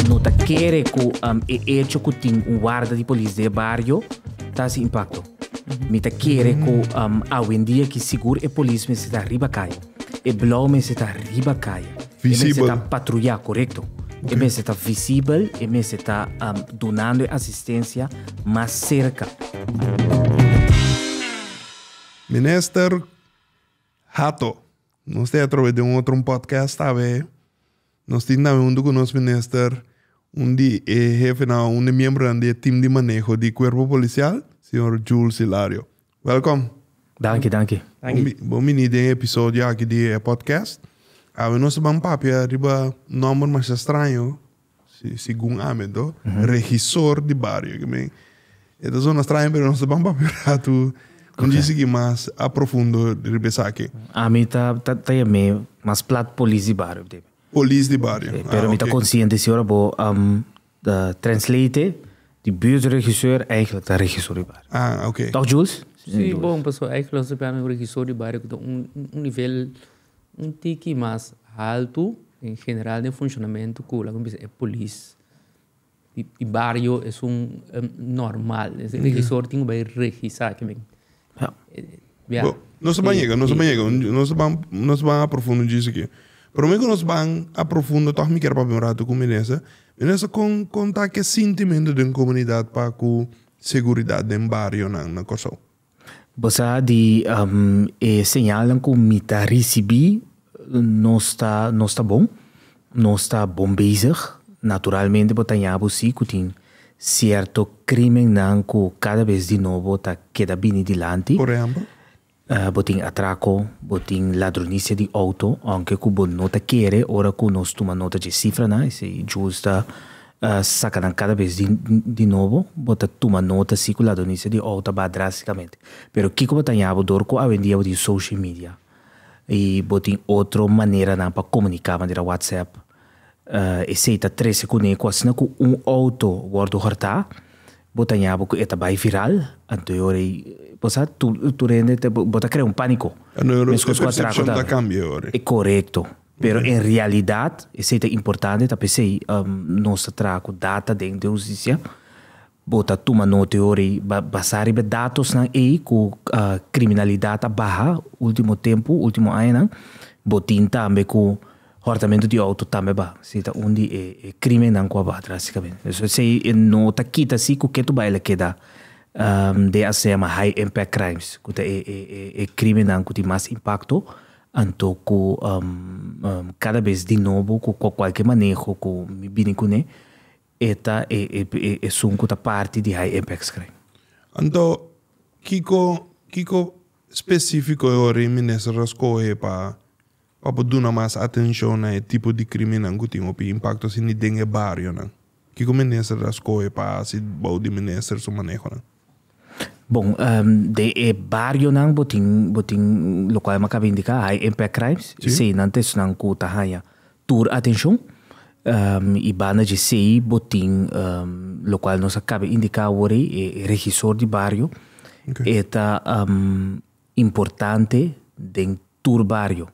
No ta kere ku e echo ku tin un warda di polis den e bario ta hasi impakto. Mi ta kere ku awendia ki sigur e polis mester ta riba kaya. E blou mester ta riba kaya. E mester ta patruyá, korekto. E mester ta visibel, e mester ta dunando e asistensia mas serka. Minister Hato. Nos tin atrobe di un otro un podcast tambe nos tin tambe huntu cu nos minister un di e hefenan o un di e miembronan di e team di maneho di cuerpo policial señor Jules Hilario. Welcom. Danki danki. Bo bini den e episodio aki di e podcast. Awe nos ta ban papia riba nomber masha straño. Segun ami to, regisor di bario aki men, e ta zona straño pero nos ta ban papia un ratu un dje sigui mas a profundo riba esaki. Ami ta ta yam'é mas plat polis di bario op di momen. Polis di bario. Sí, pero mi ta consciente si ora bo translate di buurtregisseur eigenlijk ta regisor di bario. Ah, oké. Toch Jules? Sí, bon, pasobra eigenlijk lo ta serbi ami un regisor di bario ku ta un nivel Un tiki mas haltu en general den funshonamentu ku laga mi bisa e polis di bario esun normal. E regisor tin ku bai regisá ki men. Bia. Nos ban yega, nos ban yega, nos ban nos ban a profundo djis aki. Pero mi ku nos ban a profundo tòg mi kier papia un ratu ku Minesa. Minesa kon kon ta ke sintimentu den komunidat pa ku seguridat den barionan na Kòrsou? Bo sa di e señalnan ku mi ta risibí nos ta nos ta bon, nos ta bon bezig. Naturalmente bo ta ña bo si ku tin sierto krimennan ku kada bes di nobo ta keda bini dilanti. Por ehèmpel? Bo tin atrako, bo tin ladronisia di outo, ounke ku bo no ta kere ora ku nos tuma nota dje sifranan, esei djus ta A saka nan kada bes di nobo, bo ta tuma nota si ku la donicia di ou ta ba drásticamente. Pero kiko bo ta haña bo dor ku awendia bo tin social media i bo tin otro maneranan pa komuniká manera WhatsApp? Esei ta trese kuné ku asina ku un outo wòrdu hòrtá, bo ta haña bo ku e ta bai viral, anto e ora ei bo sa tur tur hende bo ta krea un pániko, meskos ku atrako ta. Korekto. Pero en realidad, esey ta importante, ta pesey nos ta traha cu data den de Husticia. Bo ta tuma note ora ey, basá riba e datosnan ey cu criminalidad a baha ultimo tempu, ultimo añanan. Bo tin tambe cu hortamentu di auto tambe a baha, si ta un di e crimennan cu a baha drasticamente. Pues esey no ta kita si cu Ketu Bayi la keda den asina a high impact crimes, cu ta e crimennan cu tin mas impacto Anto ku kada bes di nobo ku kualke maneho ku mi bini kuné e ta e esun ku ta parti di High Impact Screen. Anto kiko kiko spesifiko e ora e minister ta skohe pa pa por duna mas atenshon na e tipo di kriminnan ku tin hopi impakto asina den e barionan? Kiko minister ta skohe pa hasi bou di minister su manehonan? Bon, den e barionan bo tin, bo tin lokual mi a kaba indiká, high impact crimes, esei nan ta esnan ku ta haña tur atenshon. I banda dje esei bo tin lokual nos a kaba indiká awor ei, e regisor di bario, e ta importante den tur bario.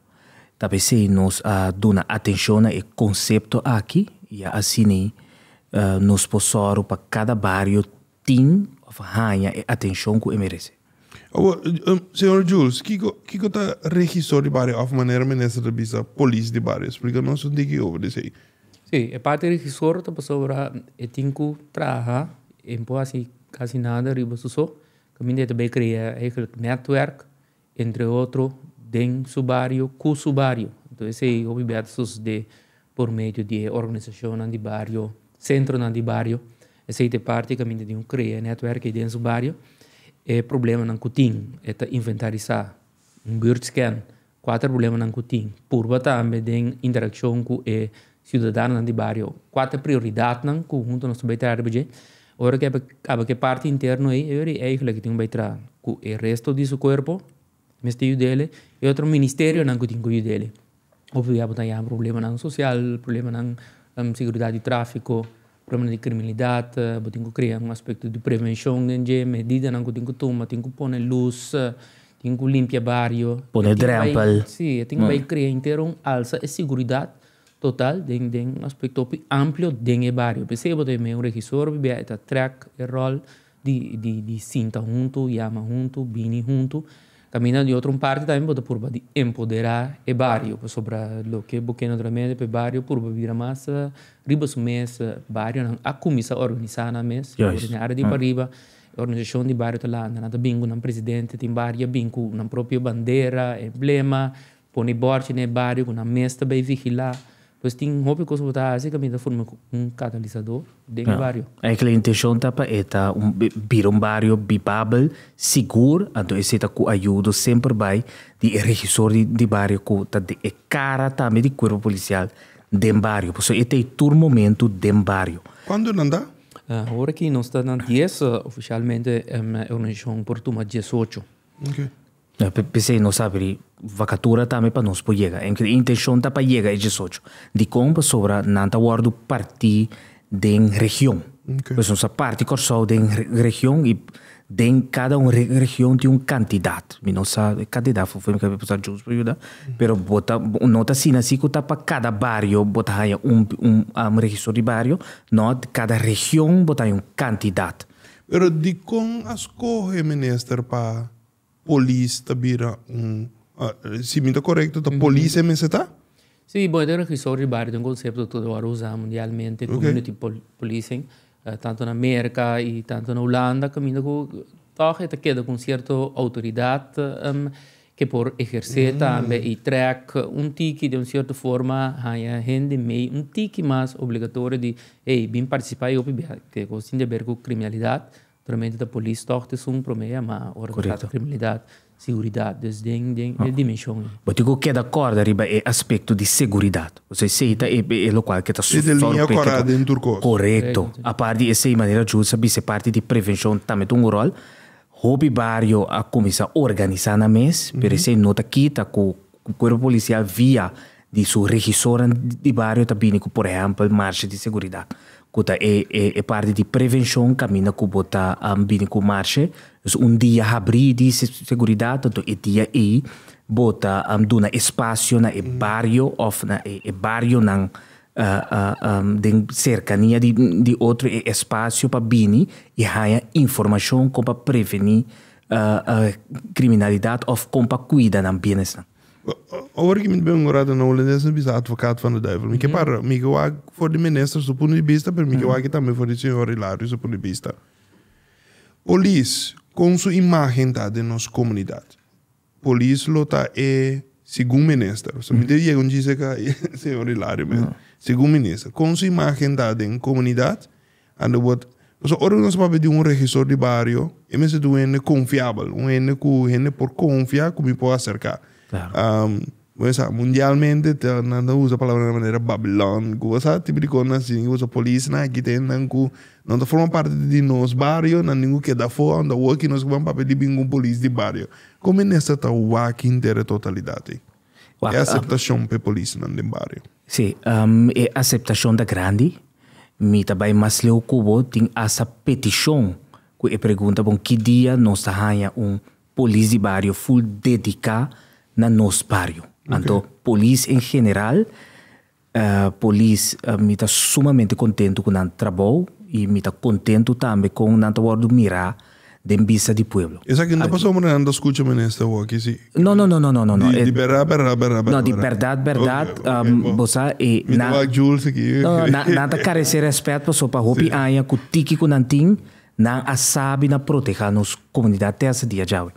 Ta p'esei nos a duna atenshon na e konsepto aki i asina nos por sòru pa kada bario tin of haña e atencion cu e merece. Awor, Señor Jules, kico, kico ta regisor di bario of manera minister ta bisa polis di bario? Splica nos un tiki over di esey. Si, e parti regisor ta pasobra e tin cu traha, e no por haci casi nada riba su so, caminda e ta bay crea eigenlijk netwerk, entre otro den su bario cu su bario. Enton esey hopi bia ta sucede por medio di e organisacionnan di bario, centronan di bario, esey ta e parti caminda di un crea e netwerk ey den su bario, e problemanan cu tin e ta inventarisa, un buurtscan, cuater problemanan cu tin, purba tambe den interaccion cu e Ciudadanonan di bario, cua ta prioridadnan cu huntu nos ta bay traha riba dje? Ora cu caba cu e parti interno ey, ey ora e eigla cu tin cu bay traha cu e resto di su cuerpo, mester yudele, e otro ministerionan cu tin cu yudele. Obvio ya bo ta yama problemanan social, problemanan seguridad di trafico. Problema di kriminalidat, bo tin ku krea un aspekto di prevenshon den dje, medidanan ku tin ku tuma, tin ku pone lus, tin ku limpia bario. Pone drèmpel. Sí, e tin bai krea entero un alsa e siguridat total den den un aspektopi amplio den e bario. P'esei bo ta bai mira un regisor bibia, e ta trèk e ròl. di sinta huntu, yama huntu, bini huntu. Kaminda di otro un parti tambe bo ta purba di empodera e bario pasobra loke bo kende naturalmente pa e bario purba bira mas riba su mes. Barionan a kuminsá organisá nan mes y den e área di pariba e organisashon di bario ta lanta, nan ta bin ku nan presidente, tin bario ya bin ku nan propio bandera, emblema, Pone bòrchi na e bario ku nan mes ta bai vigilá. Pues tin hopi kos ku bo ta hasi kaminda ta forma un katalisador den e bario. Esaki la intenshon ta pa e ta un bira un bario bibabel, sigur, anto esei ta ku ayudo semper bai di e regisor di bario ku ta den e kara tambe di kuerpo polisial den bario. Pasobra e ta ei tur momentu den bario. Kuantu nan ta? Awor aki nos ta na dies ofishalmente e organisashon por tuma diesocho. P'esei nos a abrí vakatura tambe pa nos por yega. Nos intenshon ta pa yega e diesocho. Dikon? Pasobra nan ta wòrdu parti den region. Pues nos a parti Kòrsou den region i den kada un region tin un kantidat. Mi no sa e kantidat fufu mi kaba sa djunts por yuda. Pero bo ta no ta asina si ku ta pa kada bario bo ta haña un un registor di bario. No, kada region bo ta haña un kantidat. Pero dikon a skohe, Minister, pa Polis ta bira un, si mi ta korekto ta polis e mester ta? Sí, bon e ta registrá riba área, ta un konsepto tur awor usá mundialmente, community policing, tantu na Merka i tantu na Hulanda, kaminda ku tòg e ta keda ku un sierto outoridat ke por ehersé tambe i trèk un tiki den un sierto forma haña hende mei un tiki mas obligatorio di hey bin partisipá e hopi biaha, kos tin di aber ku kriminalidat. Primeramente ta polis tòg ta esun promé yamá ora ta trata kriminalidat, seguridat. Des den den e dimenshon ei. Bo tin ku keda kòrda riba e aspekto di seguridat. Kusai esei ta e lokual ke ta sòrprekriku? Korekto. Apart di esei manera Jules a bis'e parti di prevenshon tambe ta un ròl. Hopi bario a kuminsá organisá nan mes pero esei no ta kita ku kuerpo polisial via di su regisornan di bario ta bini ku por ehèmpel marsha di seguridat ku ta e e parti di prevenshon kaminda ku bo ta bini ku marsha dus un dia habrí di seguridat anto e dia ei bo ta duna e spasio na e bario òf na e e barionan den serkania di di otro e espasio pa bini i haña informashon kon pa prevení kriminalidat òf kon pa kuida nan bienesnan. Ora ki mi ta bin morada na Holandes mi ta bisa advokat van de duivel. Mi ke para, mi ke wak for di minister su punto di bista, pero mi ke wak tambe for di señor Hilario su punto di bista. Polis, kon su imagen ta den nos komunidat? Polis lo ta e segun minister, so mi debe yega un djis leka señor Hilario mes, segun minister, kon su imagen ta den komunidat Underwood, Pasobra ora nos papia di un regisor di bario, e mester ta un hende konfiabel, un hende ku hende por konfia ku mi por aserká. Bo sa, mundialmente nan ta usa palabranan manera Babilòn ku bo sa, tipo di kosnan asin i bo sa polisnan aki ta hendenan ku nan ta forma parti di nos bario, nan tin ku keda afó, aun ta wòk i nos ku ban papia di bin ku un polis di bario. Kon mi mester ta wak hinter e totalidat ei? E aseptashon pa e polisnan den bario? Sí, e aseptashon ta grandi. Mi ta bai mas leu ku bo, tin asta petishon ku e pregunta bon ki dia nos ta haña un polis di bario ful dediká na nos bario. Anto polis en general. Polis, Mi ta sumamente kontentu ku nan trabou i mi ta kontentu tambe kon nan ta wòrdu mirá den bista di pueblo. Esaki no ta pasá ora nan ta skucha Minister wou aki si. No, no, no, no, no. Di berdad, berdad, berdad, berdad. No, di berdad, berdad, bo sa e nan. Mi ta wak Jules aki. No, no, nan ta karesé rèspèt pasobra pa hopi aña ku tiki ku nan tin Nan a sabi na protehá nos komunidat te hasta dia djawe.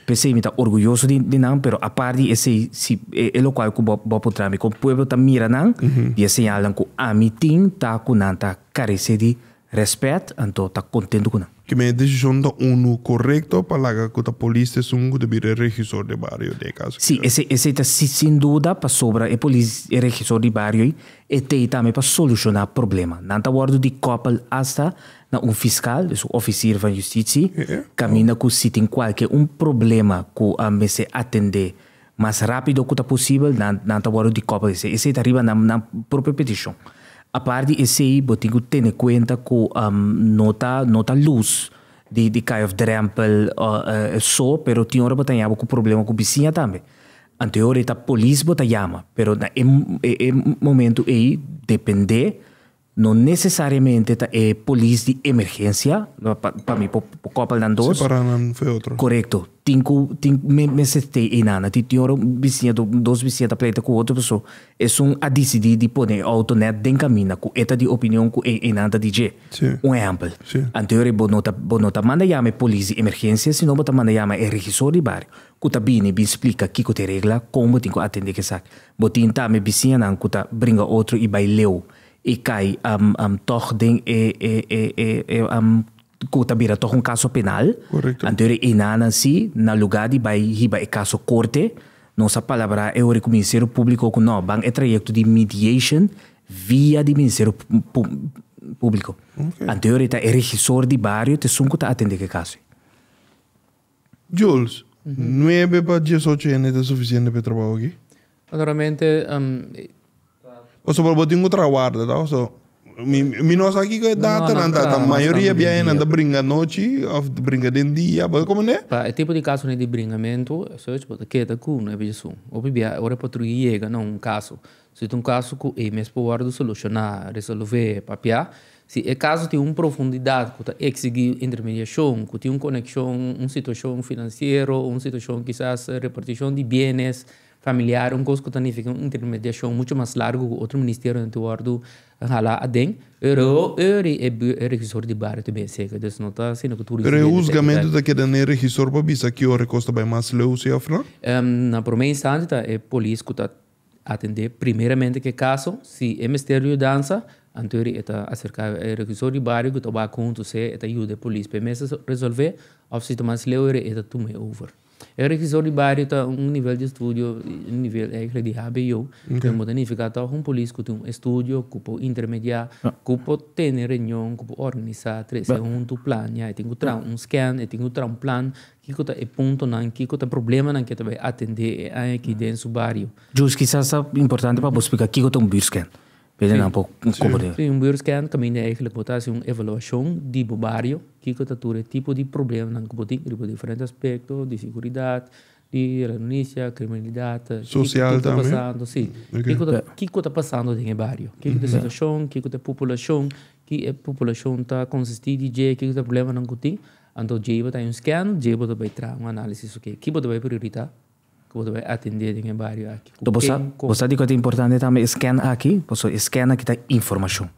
P'esei mi ta orguyoso di nan, pero apart di esei si e lokual ku bo bo por traha mi kon pueblo ta mira nan di e señalnan ku ami tin ta ku nan ta karesé di rèspèt, anto ta kontentu ku nan. Kime e desishon ta unu korekto pa laga ku ta polis ta esun ku ta bira e regisor di bario di e kaso ki ta. Si, esei ta si sin duda pasobra e polis e regisor di bario ei e ta ei tambe pa solushoná problema. Nan ta wòrdu di kòpel hasta na un fiskal, dus un ofisir van yustitsi, kaminda ku si tin kualke un problema ku a mester atendé mas rápido ku ta posibel, nan nan ta wòrdu di kòp di esei. Esei ta riba nan nan propio petishon. Apart di esei bo tin ku tene kuenta ku no ta no ta lus di di kai òf drèmpel so, pero tin ora bo ta ña bo ku problema ku bisiña tambe. Anterior e ta polis bo ta yama, pero na e e momentu ei dependé. No necesariamente ta e polis di emergencia, pa mi por koppel nan dos. Separa nan for e otro. Correcto. Tin cu tin mester te einan. Na tin tin ora un biciña do dos biciña ta pleita cu otro paso esun a dicidi di pone e auto net den caminda cu e ta di opinion cu e einan ta di dje. Si. Un ehempel. Si. Anteori bo no ta bo no ta manda yama e polis di emergencia sino bo ta manda yama e regisor di bario cu ta bini bin splica kico ta e regla con bo tin cu atende cu esaki. Bo tin ta mi bisiñanan ku ta bringa otro i bai leu i kai am am tòg den e e e e e am ku ta bira tòg un kaso penal. Korekto. Anter e enanan si, na lugá di bai hiba e kaso korte, nos a palabrá e ora ku Ministerio Públiko ku nò ban e trayekto di mediation via di Ministerio Pu Públiko. Anter e ta e regisor di bario t'esun ku ta atendé ku e kaso ei. Jules, Nuebe pa diesocho hende ta sufisiente pa e trabou aki? Naturalmente, em. Pasobra bo tin ku trawarda, ta? So, mi, mi no sa kiko e datanan ta, ta mayoria bia hende ta bringa anochi òf ta bringa den dia, bo ta komprendé? Pa e tipo di kasonan di bringamentu, esochi bo ta keda ku nuebe diesun. Hopi bia, ora e patrui yega na un kaso, Si ta un kaso ku e mes por wòrdu solushoná, resolvé, papiá, si e kaso tin un profundidat ku ta eksigí intermediashon, ku tin un konekshon, un situashon finansiero, un situashon kisas repartishon di bienes familiar, un kos ku ta nifiká un intermediashon muchu mas largu ku otro ministerionan tin wòrdu halá aden, ori e regisor di bario ta bini seka. Entonces no ta asina ku tur disidente ta ayudá. E rehusgamentu ta keda na e regisor pa bisa ki ora e kos ta bai mas leu, si òf no? Na promé instanti ta e polis ku ta Atendé primeramente k'e kaso, si e mester di yudansa, anto e ta aserká e rehuisor di bario ku ta wak huntu se e ta yuda e polis p'e mester resolvé òf si ta mas leu e ta tuma e over. E rehuisor di bario ta un nivel di estudio, un nivel ègla di hbo, ku e munda nifiká tòg un polis ku ta un estudio, ku por intermediá, ku por tene reunion, ku por organisá, trese huntu, plania, e tin ku traha un scan, e tin ku traha un plan, Kiko ta e puntonan, kiko ta e problemanan ke ta bai atendé e aña akí den su bario? Jus, kisas ta importante pa bo spliká kiko ta un buurtskern, p'e nan por komprendé. Sí, un buurtskern kaminda eigenlijk bo ta hasi un evaluashon di bo bario, kiko ta tur e tipo di problemanan ku bo tin riba diferente aspekto, di seguridat, di renunisia, kriminalidat, kiko ta pasando, sí, kiko ta pasando den e bario, kiko ta e situashon, kiko ta e populashon, ki e populashon ta konsistí di dje, kiko ta e problemanan ku tin. Anto dje bo ta hay un scan, dje bo ta bay traha un análisis, oke, ki bo ta bay prioritá ku bo ta bay atendé den e bario aki? Ku ken, kon? Bo sa di ku ta importante tambe e scan aki? Paso e scan aki ta informashon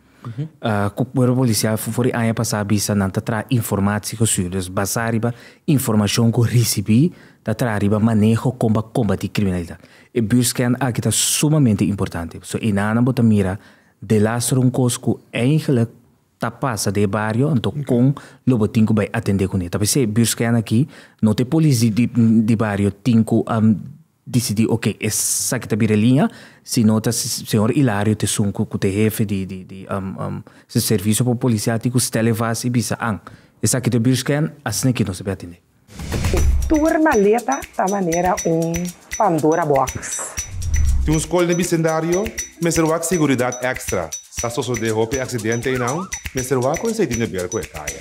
ku Kuerpo Polisial for di aña pasá a bisa nan ta traha informatsi ku su. Des basá riba informashon ku risibí ta traha riba maneho kon pa kombatí kriminalidat. E buurscan aki ta sumamente importante paso einan bo ta mira delastro un kos ku eigenlik ta pasa den e bario anto con lo bo tin cu bay atende cune ta p'esey buurs kaya na aki no ta e polis di bario tin cu a dicidi ok esaki ta bira e liña sino ta señor Hilario ta esun cu ta e hefe di di servicio policial tin cu stele vast y bisa an esaki ta buurs kaya asina aki nos a bin atende. E tur maleta ta manera un Pandora box. Tin un skol den e bisendario, mester wak seguridat èkstra. Sa sosodé hopi aksidente einan, mester wak ku esei tin ke ber ku e kaya.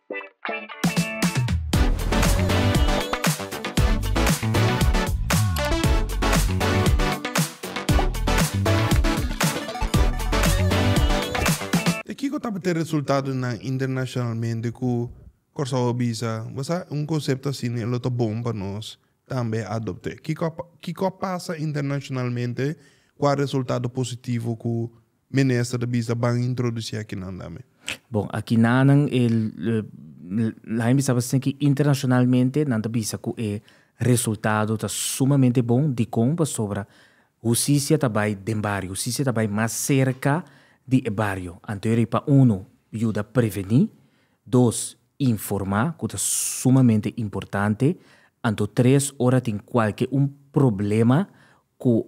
E kiko tabata e resultadonan internashonalmente ku Kòrsou a bisa, Bo sa, un konsepto asina e lo ta bon pa nos tambe a adopt'é. Kiko a pasa internashonalmente? Kua resultado positivo ku Minister ta bisa ban introduci akinan tambe. Bon, akinanan e lain bisaba sina ki internacionalmente nan ta bisa cu e resultado ta sumamente bon. Dicon? Pasobra husicia ta bay den bario, husicia ta bay mas cerca di e bario. Anteori pa uno yuda preveni, dos informa, cu ta sumamente importante, anto tres ora tin cualke un problema Ku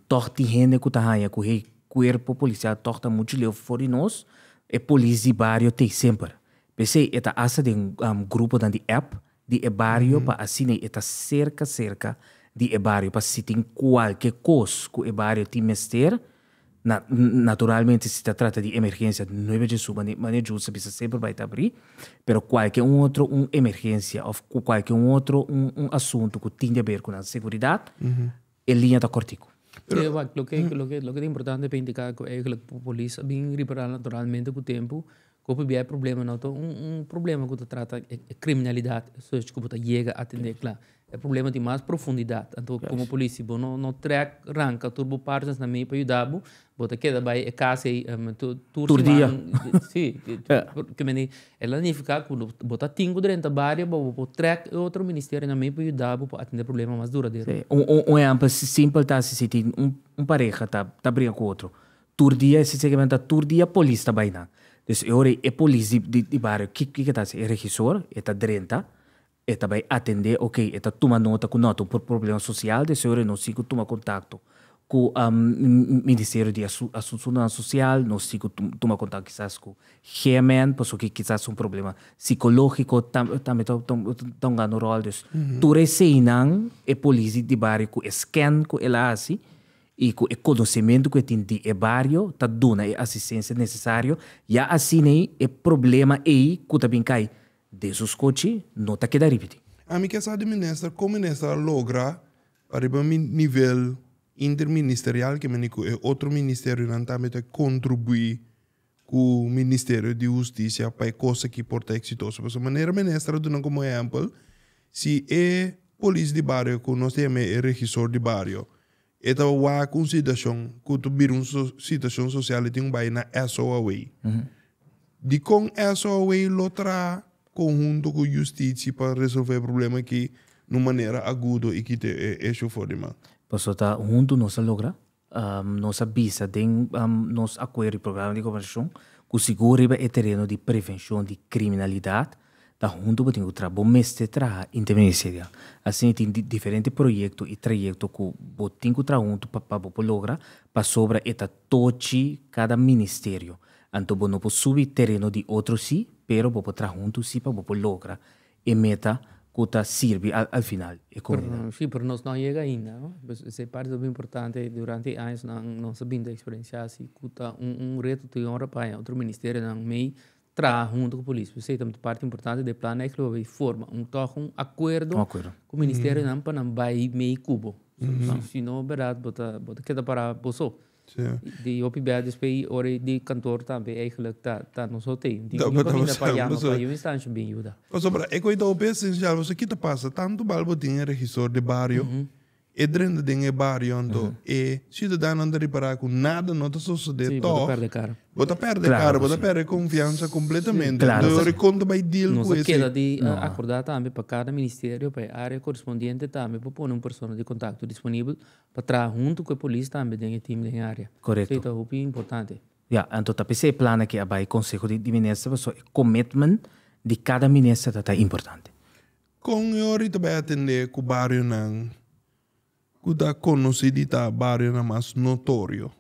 tòg tin hende ku ta haña ku e kuerpo polisial tòg ta muchu leu for di nos. E polis di bario t'ei semper. P'esei e ta hasta den gruponan di app di e bario pa asina e ta serka serka di e bario pa si tin kualke kos ku e bario tin mester Naturalmente si ta trata di emergencia no bai dje suba mane djul sa bisa semper bai ta bri pero cualkier un otro un emergencia of cu cualkier un otro un asunto cu tin di haber cu nan seguridad e liña ta cortico. Pero wak loke loke loke ta importante pa indica cu eigenlijk polis a bin riparal naturalmente cu tempo Kopi bia e problema no ta un un problema ku ta trata e kriminalidat esochi ku bo ta yega atendé kla. E problema tin mas profundidat. Anto komo polisi bo no no trèk ranka tur bo partners na mei pa yuda bo, bo ta keda bai e kas ei tur siman. Sí, por ki manera el a nifiká ku bo ta tin ku drenta bario pa bo por trèk e otro ministerio na mei pa yuda bo pa atendé e problema mas duradero. Sí, un ehèmpel simpel ta si tin un pareha ta briga ku otro, Tur dia e siseki nan ta tur dia polis ta bai nan. Dus e ora ei e polis di di di bario ki ki ke ta hasi? E regisor e ta drenta, e ta bai atendé, oke, e ta tuma nota ku nota un por problema sosial, dus e ora ei nos sigui tuma kontakto ku Ministerio di Asu Asunsunan Sosial, nos sigui tu tuma kontakto kisas ku GMN pasobra kisas un problema sikológiko tam tambe ta ta ta hungando un ròl. Dus tur eseinan e polis di di bario ku e scan ku el a hasi i ku e konosementu ku e tin di e bario ta duna e asistensia nesesario, ya asin'ei e problema ei ku ta bin kai den su skochi no ta keda ripití. Ami ke sa di minister kon minister a logra pa riba mi nivel interministerial ke mi ni ku e otro ministerionan tambe ta kontribuí cu Ministerio di Husticia pa e cos aki por ta exitoso. Pasobra manera Minister a duna como ehempel, si e polis di bario cu nos ta yama e regisor di bario, e ta wak un situacion cu ta bira un situacion social y tin un bay na eso away. Dicon eso away lo traha conhunto cu Husticia pa resolve e problema aki na un manera agudo y kita e shofor di man? Pasobra ta hunto nos ta logra. Nos a bisa den nos Acuerdo di Programa di Gobernacion cu sigur riba e tereno di prevencion di criminalidad ta hunto bo tin cu traha. Bo mester traha interministerial. Asina tin diferente proyecto y trayecto cu bo tin cu traha hunto pa bo por logra pasobra e ta tochi cada ministerio. Anto bo no por subi tereno di otro si pero bo por traha hunto si pa bo por logra e meta cu ta sirbi al final e comunidad. Sí, pero nos no a yega ainda, no. Pues esey parti ta muy importante, durante e añosnan nos a binda experiencia haci cu ta un un reto ta yora pa haña otro ministerionan mey traha hunto cu polis. Pues esey ta parti importante den e plan ey cu lo bay forma un toch un acuerdo Un acuerdo. cu ministerionan pa nan bay mey cubo. Sino, berdad, bo ta bo ta keda para boso. Di hopi bèt despues i ora di kantoor tambe eigenlijk ta ta nos hotel. Di yu pa binda pa yama pa yu instansha bin yuda. Pasobra e ku i ta hopi esencial pasobra ki ta pasa tantu bal bo tin e regisor de bario e drenta den e bario anto e ciudadanonan ta ripara ku nada no ta sosode tog bo ta perde kara bo ta perde konfiansa kompletamente anto e ora e konta bai deal ku e. Nos a keda di akorda tambe pa kada ministerio pa e área korespondiente tambe por pone un persona di kontakto disponibel Pa traha huntu ku e polis tambe den e tim den e área. Korekto. So e ta hopi importante. Ya, anto ta p'esei e plan akí a bai konseho di minister pasobra e commitment di kada minister ta ta importante. Kon e ori ta bai atendé ku barionan ku ta konosí di ta barionan mas notorio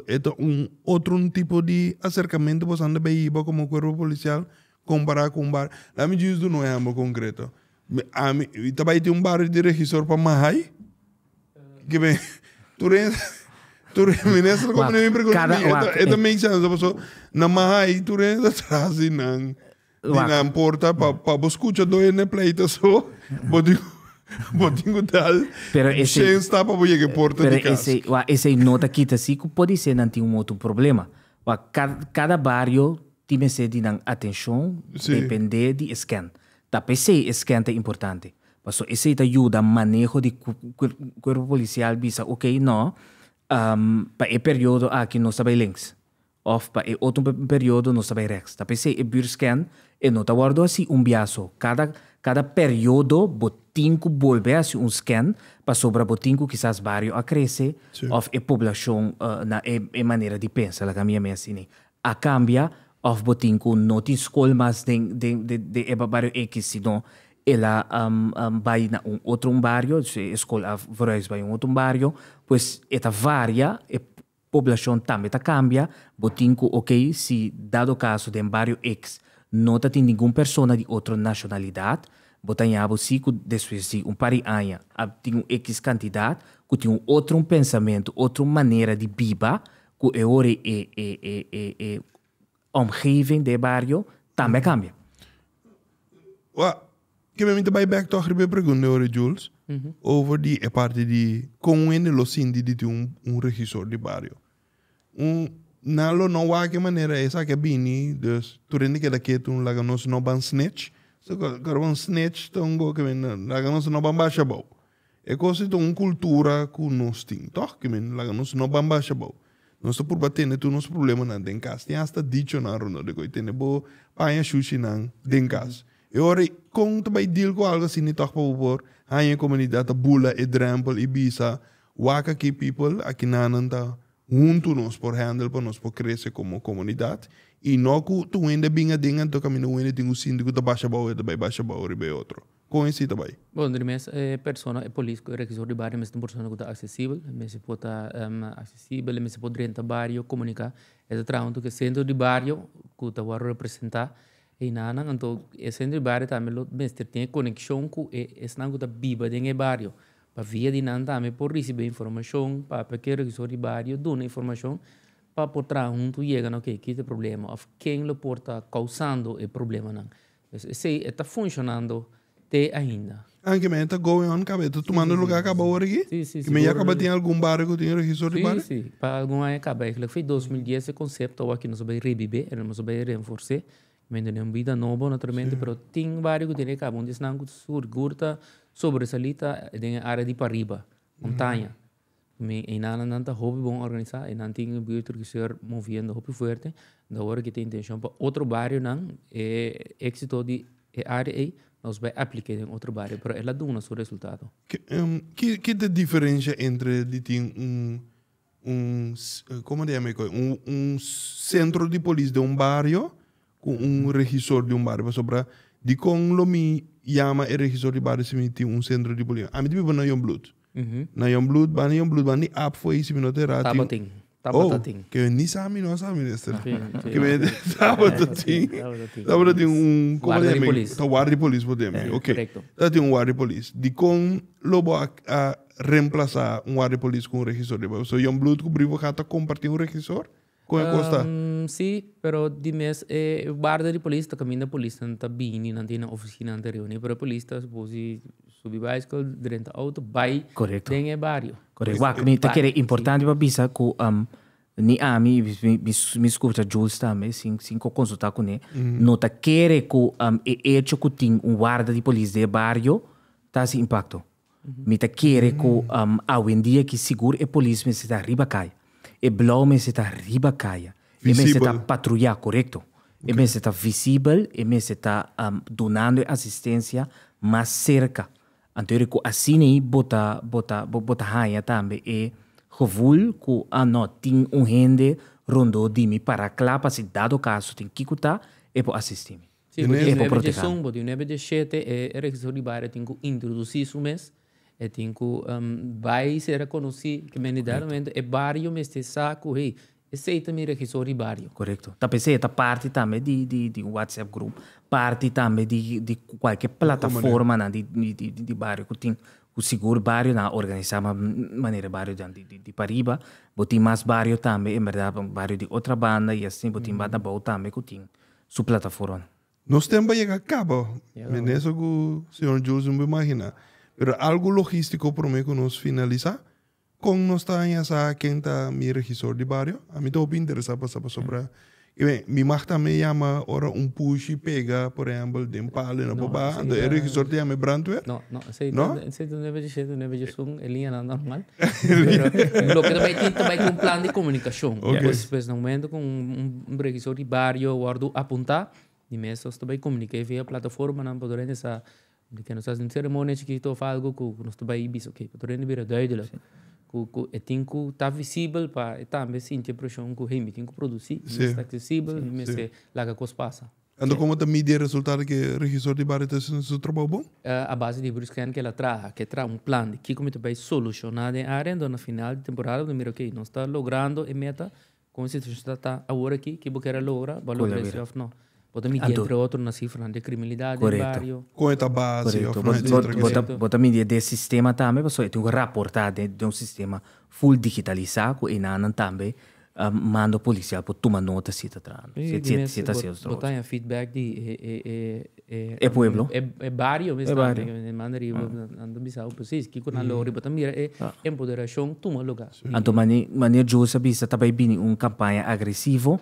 e ta un otro tipo di acercamento bo esnan ta bay hiba como cuerpo policial compara cu un bar laat me gius duna un ehempel concreto ami ta bay tin un barrio di regisor pa majai ki me tur e tur e minister ta make sense na majai tur e hende ta traha asin nan. Di nan porta pa bo skucha dor hende pleito so, bo tin ku bo tin ku dal shen stap pa bo yega e porta di kas. Pero wa esei no ta kita si ku pudi ser nan tin un moto un problema. Wa kada bario tin mester di nan atenshon depende di e scan. Ta pesei e scan ta importante paso esei ta yuda maneho di kuerpo polisial bisa ok no pa e periodo aki nos ta bai lens Òf pa e otro periodo nos ta bai rèks. Ta p'esei e buurscan e no ta wòrdu hasi un bia so. Kada kada periodo bo tin ku bolbe hasi un scan pasobra bo tin ku kisas bario a krese òf e poblashon na e manera di pensa, laga mi a mes ini, a kambia òf bo tin ku no tin skol mas den den e bario ekis sino el a bai na un otro un bario, e skol a verhuis bai un otro un bario, pues e ta varia e Poblacion tambe ta cambia, bo tin cu ok si dado caso den Barrio X no ta tin ningun persona di otro nacionalidad, bo ta ñabo si cu despues di un par di aña a tin un X cantidad cu tin un otro un pensamento, otro manera di biba cu e ora e Omgeving d'e bario tambe a kambia. Wak, ke men mi ta bai bek tog riba e pregunta di ora Jules, over di e parti di kon un hende lo sinti di tin un regisor di bario. Nan lo no wak e manera esaki a bini, dus tur hende keda ketu, laga nos no ban snitch. Karu un snitch ta un goe ke men laga nos no ban basha abou. E kos ei ta un kultura ku nos tin tòg. Ki mester laga nos no bambasha abou. Nos ta purba tende tur nos prublemannan den kas. Tin asta dichonan rondó di koe. Tende bo paña shushinan den kas. E ora ei kon ta bai deal ku algu asini tòg pa bo por haña e komunidat ta bula e drèmpel i bisa, Waka ki pipel, aki nannan ta huntu nos por hèndel pa nos por krese komo komunidat. I no ku tu wende a bin aden anto kaminda wende tin ku sinti ku ta basha abou e ta bai basha abou riba e otro. Kon e sita bai? Bon, den e mes e persona, e polis ku e regisor di bario mester por persona ku ta aksesibel. E mester por ta aksesibel, e mester por drenta bario, komuniká. E ta traha huntu ku e sentro di bario ku ta wòrdu representá einan nan. Anto e sentro di bario tambe lo mester tin e konekshon ku e esnan ku ta biba den e bario pa via di nan tambe por risibí informashon, papia ku e regisor di bario duna informashon pa por traha huntu yega na oke, ki ta e problema òf ken lo por ta kousando e problemanan. Esei e ta funshonando te ainda. Anke men e ta going on kaba e ta tumando luga kaba ora aki? Ke men ya kaba tin algun bario ku tin registor di bario? Si, si. Pa algun aña kaba. E kila ku fei dos mil dies e konsepto awor aki nos a bai rebibe, e nos a bai renfors'é. Men done un bida nobo naturalmente pero tin bario ku tin e kaba un di esnan ku sigur ta sobresalí ta den e área di pariba, montaña. Mi einanan ta hopi bon organisa y nan tin e buerto di Cuseur moviendo hopi fuerte. Di awor aki ta intencion pa otro barionan e exito di e area ei nos bai aplica den otro bario pero el a duna su resultado. Ki ta diferencia entre di tin un un como ta yama ecu un centro di polis den un bario cu un regisor di un bario pasobra dicon lo mi yama e regisor di bario si mi tin un centro di polis? Ami ta biba na Youngbloed. Na Jon Bloed banda, Jon Bloed banda ni app for ei si mi no ta erá. Tabata tin, tabata tin. Oh, ke ni sa mi no a sa minister. Ke mi tabata tin. Tabata tin un Guarda di polis. Ta guarda di polis for den. Ok. Ta tin un guarda di polis. Dikon lo bo a remplasa un guarda di polis ku un regisor di papel? So Jon Bloed ku Brivo Gat ta kompartí un regisor? Con e cos ta? Sí, pero di mes e guarda di polis ta caminda, polisnan ta bini, nan ta na e oficinan ta reuni, pero e polis ta suppose di subi bicycle, drenta auto, bay den e bario. Correcto. Wak, mi ta kere importante pa bisa cu ni ami, mi scucha Jules tambe, sin sin cu consulta cune, no ta kere cu e hecho cu tin un warda di polis den e bario ta haci impacto. Mi ta kere ku awendia aki sigur e polis mester ta riba kaya. E blou mester ta riba kaya. E mester ta patruyá, korekto. E mester ta visibel, e mester ta dunando e asistensia mas serka. Anto yo ku asina ei bo ta bo ta bo ta haña tambe e gevoel ku, a no, tin un hende rondó di mi pará kla pa si dado kaso tin kiko ta e por asistí mi. Si, bo tin nuebe djesun, bo tin nuebe djeshete e registro di baria tin cu introduci su mes, e tin cu bay sera conoci kimendi den e momento e bario mester sa cu hey, esey ta mi registro di bario. Corecto. Ta p'esey e ta parti tambe di un whatsapp group, parti tambe di cualkier plataformanan di bario cu tin, cu sigur barionan a organisa manera e bario dian di pariba, bo tin mas bario tambe en berdad, bario di otra banda y asina, bo tin banda bou tambe cu tin. su plataforma. Nos tempo a yega caba, meneser cu señor Jules no bo imagina, pero algo logistico prome cu nos finalisa, con nos ta haña sa ken ta mi regisor di bario? A mi ta hopi interesa pasa pasobra y ben mi mag tambe yama ora un pushi pega por ehempel den palo y no por baha, enton e regisor ta yama e brandweer? No, no, esey ta no e bejeshey, ta no e bejesun, e liñanan normal. Loke ta bai tin ta bai ku un plan di komunikashon. Pues pues na momento ku un regisor di bario wòrdu apunta mi mes nos ta bai komuniké via plataformanan pa Doriente sa di ke nos ta hasi un seremonia chikito òf algu ku nos ta bai bisa okay pa Doriente bira duidelik ku ku e tin ku ta visibel pa e tambe sinti e preshon ku hey mi tin ku produsí mi mes ta aksesibel mi mester laga kos pasa. Anto como ta midi e resultado di e Regisor di Bario ta haciendo su trabao bon? A base di Bruce Kent kel a traha, ke traha un plan di kiko mi ta bay soluciona den area, enton na final di temporada bo ta mira okay, nos ta logrando e meta con e situacion ta ta awor aki, ki bo kere logra, bo a logra e si of no. Bo ta midi entre otro na cifranan di criminalidad den bario. Con e ta base of no etcetera ke sa. Bo ta midi den sistema tambe pasobra e tin ku raporta den un sistema full digitaliza ku enanan tambe A mando policial por tuma nota si ta trahando, si ta haciendo trabajo sucio. Bo ta haña feedback di e pueblo, e bario mes tambe, e manda riba nan ta bisa bo precies kico nan logra y bo ta mira e empoderacion tuma lugar. Anto manera Joe sa bisa ta bay bini un campaña agresivo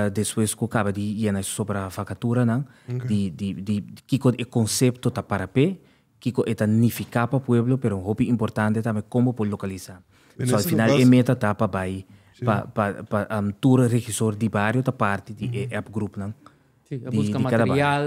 despues cu caba di yena e sobra facaturanan di kico e concepto ta para pe Kiko e ta nifiká pa pueblo, pero un hopi importante tambe kon bo por lokalisá. So al final e meta ta pa bai pa pa pa tur regisor di bario ta parti di e app grupnan di di kada bario. Buska material,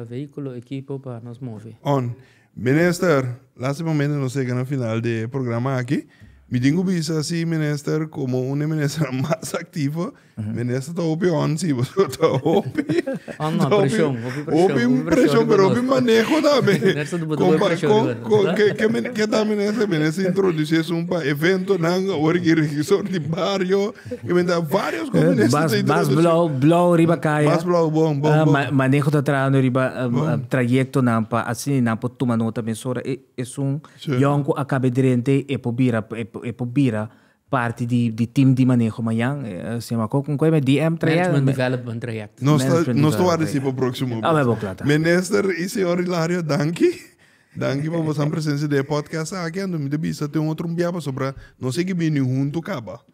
vehículo, equipo pa nos move. On. Minister, lastimamente nos yega na final di e programa aki. Mi tin ku bisa si Minister komo un di e ministernan mas aktivo Minister ta hopi onsi, pasobra ta hopi, oh, no, presión, hopi presión, hopi presión, pero hopi manejo también. Minister tuvo tuvo presión. Con que que men que ta minister, minister introduce un pa evento nan, ori que regisseur di barrio, que men ta varios con minister te introduce. Mas blow blow riba kaya. Mas blow bon bon bon. Uh, manejo ta trano riba uh, bon. uh, trayecto nan pa así nan po tuma nota men sora e, e sun sí. jonko acabe drente e po bira e, e po bira Parti di di team di maneho mañan se llama con con e DM trayect. Management Development Trayect. Nos ta nos ta warda esey pa proximo bes. Awebo cla ta. Minister y Señor Hilario danki. Danki pa bo san presencia den e podcast aki anto mi ta bisa te un otro bia pasobra nos sigi bini hunto caba.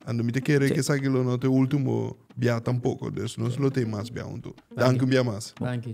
Anto mi ta kere cu esaki lo no ta e ultimo bia tampoco. Nos lo ta e mas bia hunto. Danki un bia mas. Danki.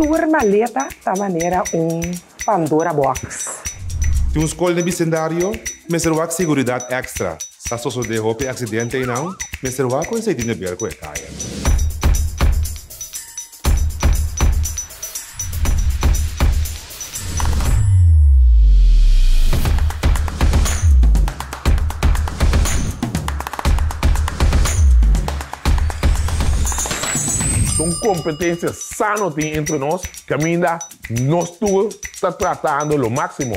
tur maleta ta manera un pandora box. Tin un skol den bisendario, mester wak seguridat ekstra, sa sosode hopi aksidente einan, mester wak ku e seitin de ber ku e kaya. Con competencia sano tin entre nos, caminda nos tur ta tratando lo maximo.